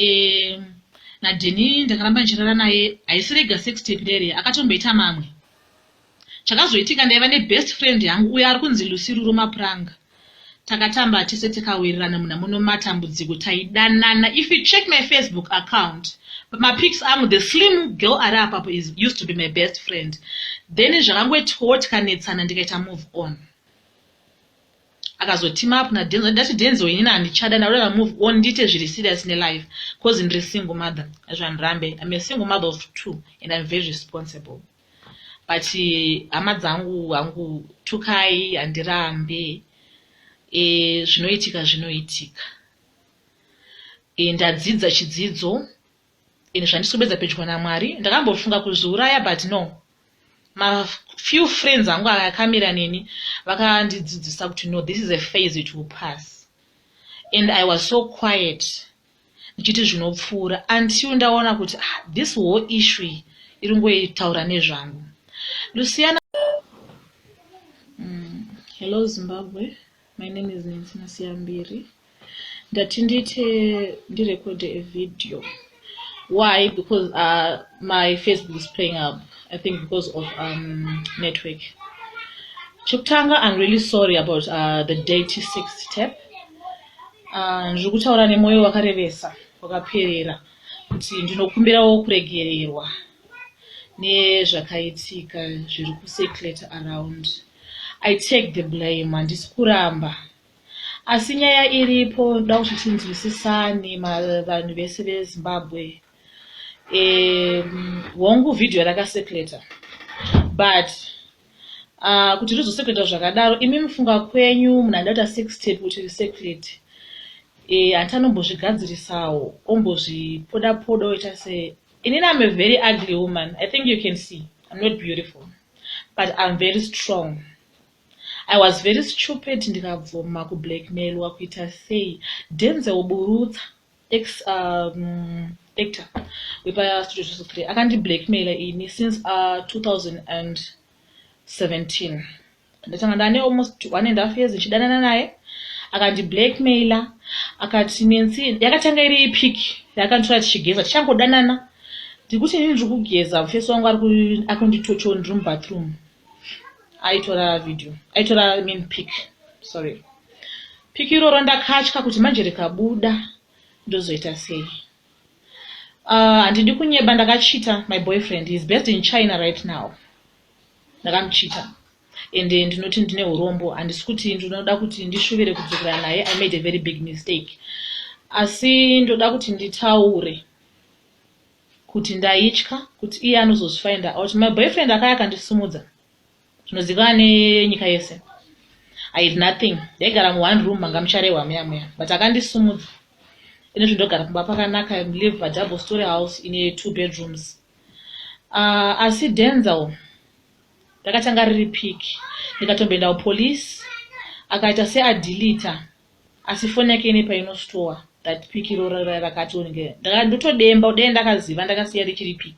eh, nadheni ndakaramba ndichirara naye haisi rega sex tape rere akatomboita mamwe chakazoitika ndaiva nebest friend yangu uyo ari kunzi lusiruro mapuranga takatamba tese tikawirirana muna muno matambudziko taidanana if you check my facebook account mapics angu the slim girl ari apapo is used to be my best friend then zvakangoitiwo tikanetsana ndikaita move on akazotima up na denzo ndati denzo inini handichada ndaureva move on ndiite zviri serious nelife cause ndiri single mother hazvandirambe im a single mother of two and im very responsible but eh, hama dzangu hangu tukai handirambe e, zvinoitika zvinoitika e, ndadzidza chidzidzo Ini zvandiswebedza pedyo naMwari ndakambofunga kuzviuraya but no. Ma few friends angu akamira neni vakandidzidzisa kuti no this is a phase it will pass. And I was so quiet ndichiti zvinopfuura until ndaona kuti ah, this whole issue iyi iri ngoitaura nezvangu. Luciana mm, Hello Zimbabwe. My name is Nancy Masiyambiri. Ndati ndiite ndirecorde a video. Why? Because uh, my Facebook is playing up. I think because of um, network. Chokutanga, I'm really sorry about uh, the dirty sex tap. Uh, ndiri kutaura nemwoyo wakarevesa wakaperera kuti ndinokumbirawo kuregererwa nezvakaitika zviri kucirculate around I take the blame handisi kuramba asi nyaya iripo ndoda kuti tinzwisisane vanhu vese vezimbabwe um hongu vhidhiyo rakaseculator but uh, kuti rizoseculator zvakadaro imi mufunga kwenyu munhu aida kuita sex tape kuti riseclate eh, hanti anombozvigadzirisawo ombozvipoda poda oita se inini am a very ugly woman i think you can see im not beautiful but I'm very strong I was very stupid ndikabvuma kublackmailwa kuita sei Denzel Burutsa ex um, actor wepastudio zviso 3 akandiblackmaila ini since uh, 2017 ndatanga ndane almost one and half years ndichidanana naye akandiblackmaila akati nensi yakatanga iri ipiki yaakanditora tichigeza tichangodanana ndikuti inini ndiri kugeza mufesi wangu akunditocho ndiri mubathroom aitora video aitora mean pic sorry pic iroro ndakatya kuti manje rikabuda ndozoita sei ah, handidi uh, kunyeba ndakachita my boyfriend is best in china right now ndakamuchita and eh, ndinoti ndine urombo handisi kuti ndinoda kuti ndishuvire kudzokera naye i made a very big mistake asi ndoda kuti nditaure kuti ndaitya kuti iye anozozvifinda out my boyfriend akaya akandisimudza zvinozikana nenyika yese i had nothing ndaigara muone room manga mucharehwa muya muya but akandisimudza ine zvi ndogara kumba pakanaka live padouble story house ine two bedrooms uh, asi denzel ndakatanga riri pic ndikatomboenda kupolice akaita seadilita Asi foni yake ine paino store that pic iro rakati onge ndaka ndotodemba dai ndakaziva ndakasiya richiri pic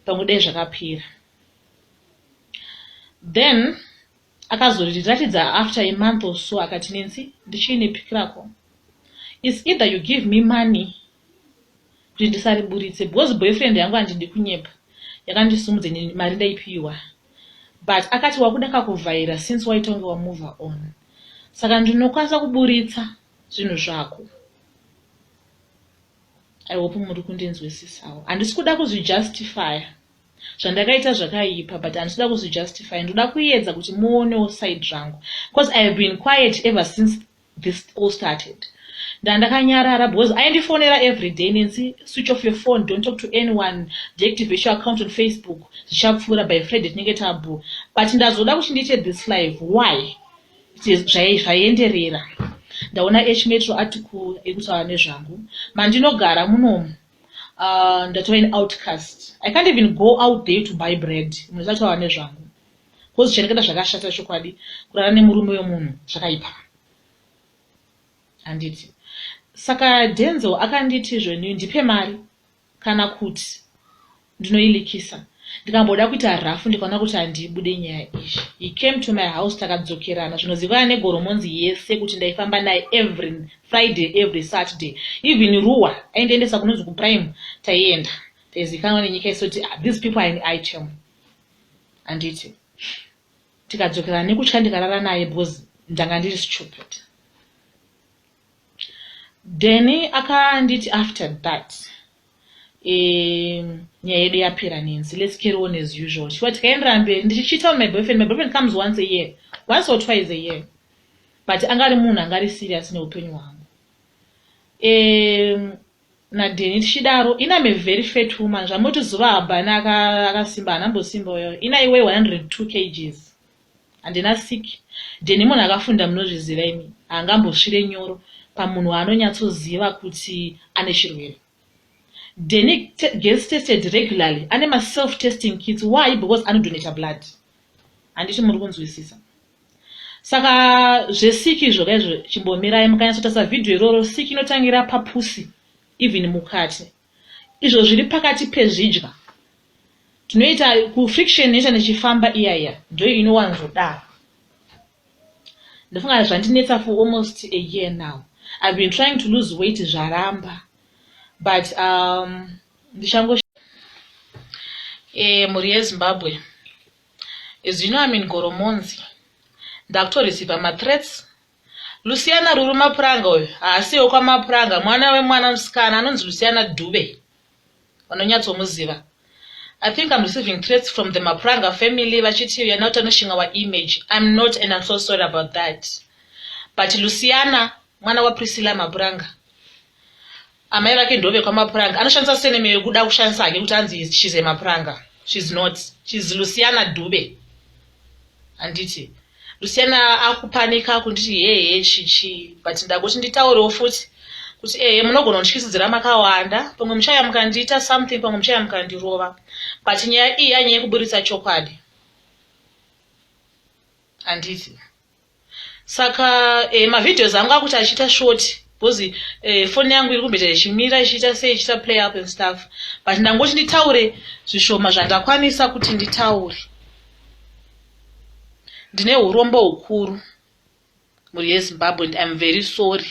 pamwe dai zvakapera then akazoriratidza after a month or so akati nensi ndichiine pic rako is either you give me money kuti ndisariburitse because boyfriend yangu handidi kunyepa yakandisimudza ini mari ndaipiwa but akati wakuda kakuvhaira since waitonge wamove on saka ndinokwanisa kuburitsa zvinhu zvako i hope muri kundinzwisisawo handisi kuda kuzvijustifya zvandakaita zvakaipa but handisi kuda kuzvijustifya ndoda kuedza kuti muonewo side rangu because ihave been quiet ever since this all started ndandakanyarara because aindifonera everyday nensi switch off your phone don't talk to anyone deactivate your account on facebook zvichapfuura by friday tinenge tabu but ndazoda kuti ndiite this live why zvaienderera ndaona h metro article ekutaura nezvangu mandinogara munomu uh, ndatova an outcast i can't even go out there to buy bread munhu zataura nezvangu kozi chareketa zvakashata chokwadi kurara nemurume wemunhu zvakaipa handiti saka denzel akanditi zvenyu ndipe mari kana kuti ndinoilikisa ndikamboda kuita rafu ndikaona kuti handibude nyaya izvi he came to my house takadzokerana zvinozivana negoromonzi yese kuti ndaifamba naye every friday every saturday even ruwa aindiendesa kunonzi kuprime taienda taizikanwa nenyika yese kuti ah, these people are in item handiti tikadzokera nekutya ndikarara naye because ndanga ndiri stupid deni akanditi after that nyaya yedu yapera nenzi let's carry on as usual chiwa tikaendera mberi ndichichita on my boyfriend my boyfriend comes once a year once or twice a year but anga ari munhu anga ari serious neupenyu hwangu um, naDenny tichidaro Ina me very fat woman zvamoti zuva habhani akasimba hana mbosimba uyo Ina iwe 102 kgs handina sick Denny munhu akafunda munozviziva imi haangambosvire nyoro pamunhu waanonyatsoziva kuti ane chirwere Denny gets tested regularly ane maself testing kits why because anodonata blood handiti muri kunzwisisa saka zvesiki izvo kaizvo chimbomirai mukanyatsotarisa vhidhiyo iroro siki inotangira papusi even mukati izvo zviri pakati pezvidya tinoita kufriction inoita nechifamba iya iya ndo inowanzodaro ndofunga zvandinetsa for almost a year now i've been trying to lose weight zvaramba but um, ndichango e, mhuri yezimbabwe As you know I'm in Goromonzi. Ndakuto receiver ma threats. Luciana Ruru Mapuranga uyu haasi wekwa Mapuranga, mwana wemwana musikana anonzi Luciana Dube. Vanonyatsomuziva. I think I'm receiving threats from the Mapuranga family vachiti you're not tarnishing our image. I'm not and I'm so sorry about that. But Luciana mwana wa Priscilla Mapuranga Amai vake ndove kwamapuranga anoshandisa seneme yekuda kushandisa hake kuti anzi she's a mapuranga she's not she's Luciana Dube handiti Luciana akupanika kunditi hehe chichi but ndakoti nditaurewo futi kuti ehe munogona kundityisidzira makawanda pamwe muchaya mukandiita something pamwe muchaya mukandirova but nyaya iyi yanyaya yekuburitsa chokwadi handiti saka eh, mavideos angu akuti achiita short because eh, foni yangu iri kumboita ichimira ichiita sei ichiita play up and stuff but ndangoti nditaure zvishoma zvandakwanisa kuti nditaure ndine urombo hukuru mhuri yezimbabwe and iam very sorry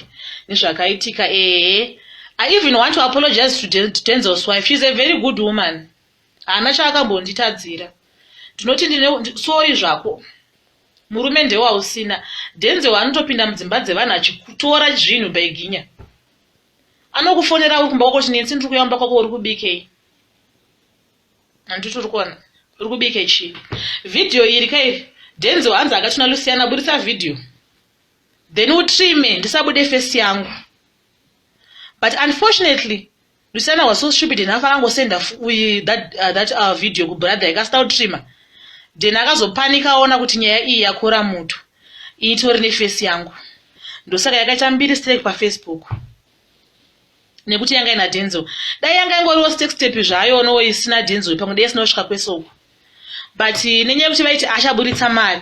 nezvakaitika ehe i even want to apologize to denzel's wife sheis a very good woman haana chaakambonditadzira ndinoti ndine sorry zvako murume ndewausina dhenze waanotopinda mudzimba dzevanhu achikutora zvinhu baiginya anokufonera uri kumba kwako chinetsi ndiri kuya kumba kwako uri kubikei handiti uri kuona uri kubike chii vhidhiyo iri kai dhenze waanzi akatuna lusiyana buritsa vhidhiyo then utrime ndisabude fesi yangu but unfortunately Luciana was so stupid and afana ngosenda uyi that uh, that our uh, video ku brother ikasita utrima then akazopanika aona kuti nyaya iyi yakora mutu itori ne face yangu ndosaka yakaita mbiri strike pa Facebook nekuti yanga ina denzel dai yanga ingoriwo step step zvayo no isina denzel pamwe dai sinosvika kwesoko but nenyaya yekuti vaiti achaburitsa mari